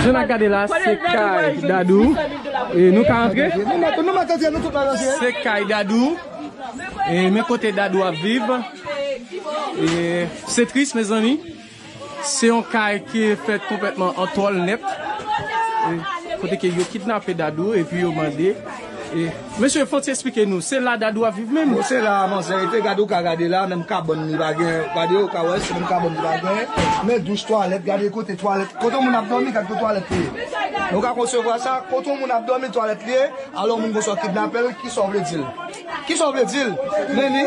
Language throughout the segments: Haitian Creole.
Jan na gade la se kay dadou e nou ka antre se kay dadou e men kote dadou ap viv e se tris mezanmi se yon kay ki fet konpletman an tol net kote ke yo kidnape dadou epi yo mande Mesye fon ti esplike nou se la dadou ap viv menm. Bon se la manzè rete gade ou ka gade la menm kabòn li pa gen gade ou ka wè se menm kabòn li pa gen men douch twalèt gade kote twalèt kote yon moun ap dòmi gade kote twalèt li ye men ou ka konsevwa sa kote yon moun ap dòmi twalèt li ye alò moun gen swa kidnapel kisa ou vle dil kisa ou vle dil men li.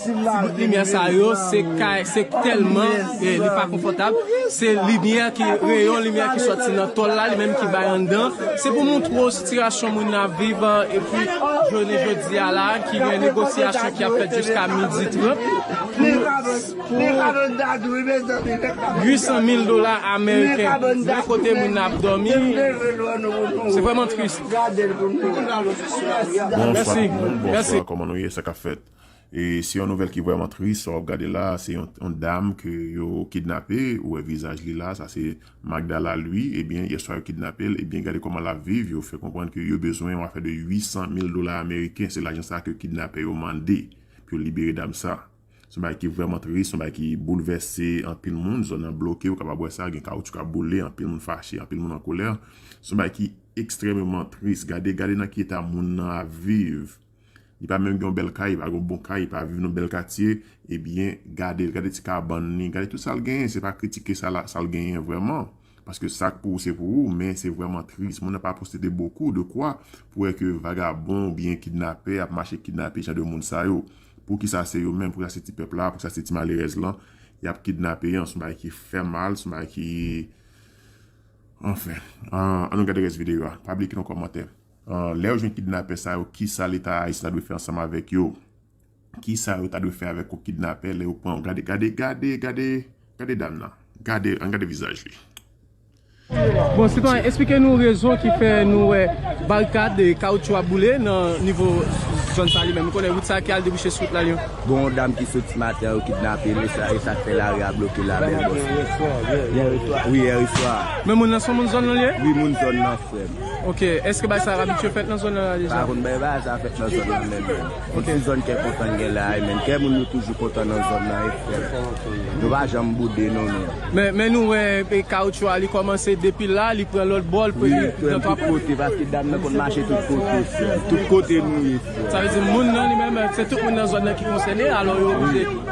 Ti bout limyè sa yo se kay se tèlman li pa konfòtab se limyè ki reyon limyè ki sòti nan tòl la li menm ki bay anndan se pou moutre w sitirasyon moun nan ap viv epi jounen jodi a la ki gen negosyasyon ki ap fèt jiska midi trant pou 800 mil dola ameriken vre kote moun nan ap dòmi se vrèman tris Bonswa ti moun bonswa kòman nou ye sa k ap fèt E se yon nouvèl ki vrèman tris sa wap gade la, se yon dam ke yo kidnape, ou wè vizaj li la, sa se Magdala Louis, ebyen yè swa yo kidnapel, ebyen gade kòman lap viv, yo fè konprann ke yo bezwen yon afè de 800 mil dola ameriken, se lajan sa ke kidnapè yo mande pou yo libere dam sa. Se yon bagay ki vrèman tris, se yon bagay ki boulvèse anpil moun, zòn nan bloke, ou kapab wè sa, gen kawoutchou kap boule, anpil moun fache, anpil moun an kolè, se yon bagay ki ekstrèmeman tris, gade, gade nan ki eta moun nan ap viv, Li pa menm gen yon bèl kay, li pa gen yon bon kay, li pa viv nan yon bèl katye, ebyen gade l, gade ti kabann li, gade tout sa l genyen, se pa kritike sa la, sa l genyen vrèman, paske sa k pou ou se pou ou, men se vrèman tris, moun nan pa posede bokou de kwa pou wè ke vagabon oubyen kidnapè ap mache kidnape jan de moun sa yo, poukisa se yo menm, poukisa se ti pèp la, poukisa se ti malerèz lan y ap kidnape an, s yon bagay ki fè mal, s yon bagay ki, anfen, an nou gade rès videyo a, pa bliye kite yon kòmantè. Lè yo jwenn kidnapè sa yo, kisa leta Ayisyen ta dwe fè ansanm avèk yo? Kisa yo ta dwe fè avèk yon kidnapè lè yo pran yon gade gade gade gade gade dam nan gade ann gade vizaj li. Bon sitwayen esplike nou rezon ki fè nou wè barikad kawoutchou ap boule nan nivo zòn sa li menm nou konnen wout sa ki al debouche sou wout la lyon. Gon yon dam ki soti maten an yo kidnape li e sak fè lari a bloke la menm bòs mwen. Yèreswa. Wi yèreswa. Men moun nan son moun zòn nan li ye? Wi moun zòn nan frèm. Ok, eske bay sa abitye fèt nan zòn nan la deja? Pa konn bay bagay sa fèt nan zòn nan menm non. Yon ti zòn kè kontan gen la a menn. Kè moun yo toujou kontan nan zòn nan e frèt. Nou pa janm boude non nou. Men nou wè kawoutchou a li kòmanse depi la li pran lòt bò l pran nan tout kote. Tout kote paske dam nan konn mache tout kote frè m. Tout kote nou ye frè m. Sa vle di moun nan li menm se tout moun nan zòn nan ki konsène alò yo oblije.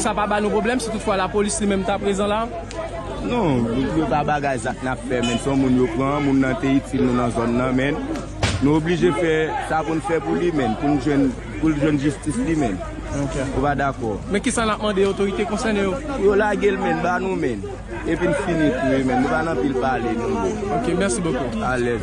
Sa pa ba nou pwoblèm si tout fwa lapolis li menm ta prezan la? Non, yo pa bagay zak n ap fè menn. Se yon moun yo pran, moun nan te itil nou nan zòn nan menn. Nou oblije fè sa pou n fè pou li menn, pou n jwenn, pou l jwenn jistis li menn. Ou pa dakò? Men kisa n ap mande otorite konsène yo? Pou yo lage l menn, ba nou menn. Epi n fini kriye menn. Nou pa nan pil pale non bro. Ok merci beaucoup. Alèz.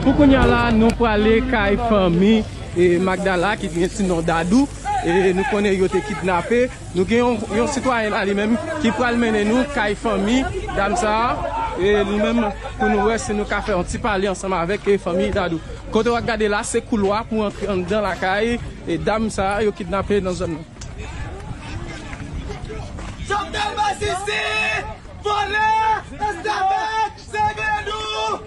Pou kounya la nou prale kay fanmi Magdala ki gen ti non Dadou e nou konnen yo te kidnape nou gen yon sitwayen la li menm ki pral mennen nou kay fanmi dam sa e nou menm pou nou wè si nou ka fè yon ti pale ansanm avèk fanmi Dadou. Kote wap gade la se koulwa pou antre anndan lakay dam sa yo kidnape nan zòn nan. Jovenel masisi, vòlè, esklavaj, sèvè nou.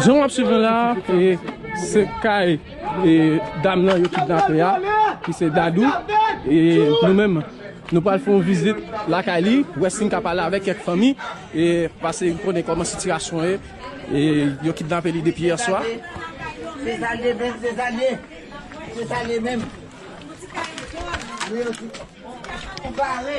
Jan wap swiv la, se kay dam nan yo kidnape ya, ki se Dadou, e nou menm nou pral fon vizit la kay li, wè sin ka pale avèk kèk fanmi, e pase yon konnen kòman sitirasyon e, e yo kidnape li depi yè swa. Se sa liye menm, se sa liye, se sa liye menm. Ou bare.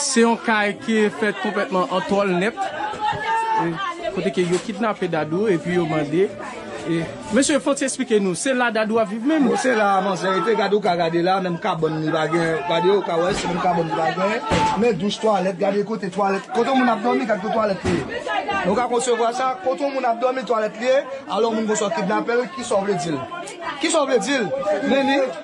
Se yon kay ki fèt konplètman an tòl nèt kote ke yo kidnape Dadou epi yo mande Mesye fòk se esplike nou se la Dadou ap viv menm? Bon se la manzè rete gade ou ka gade la menm kabòn li pa gen gade ou ka wè se menm kabòn li pa gen men douch twalèt gade kote twalèt kote yon moun ap dòmi gade kote twalèt li ye nou ka konsevwa sa kote yon moun ap dòmi twalèt li ye alò moun konsa w kidnapel kisa w vle dil kisa w vle dil men li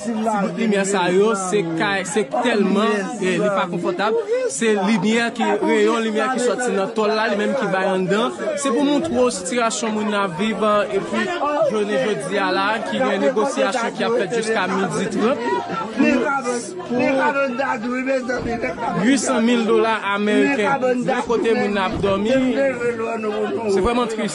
Ti bout limyè sa yo se kay se tèlman li pa konfòtab se limyè ki reyon limyè ki sòti nan tòl la li menm ki bay anndan se pou montre w sitirasyon moun nan ap viv epi jounen jodi a la ki gen negosyasyon ki ap fèt jiska midi trant pou 800 mil dola ameriken nan kote moun nan ap dòmi se vrèman tris.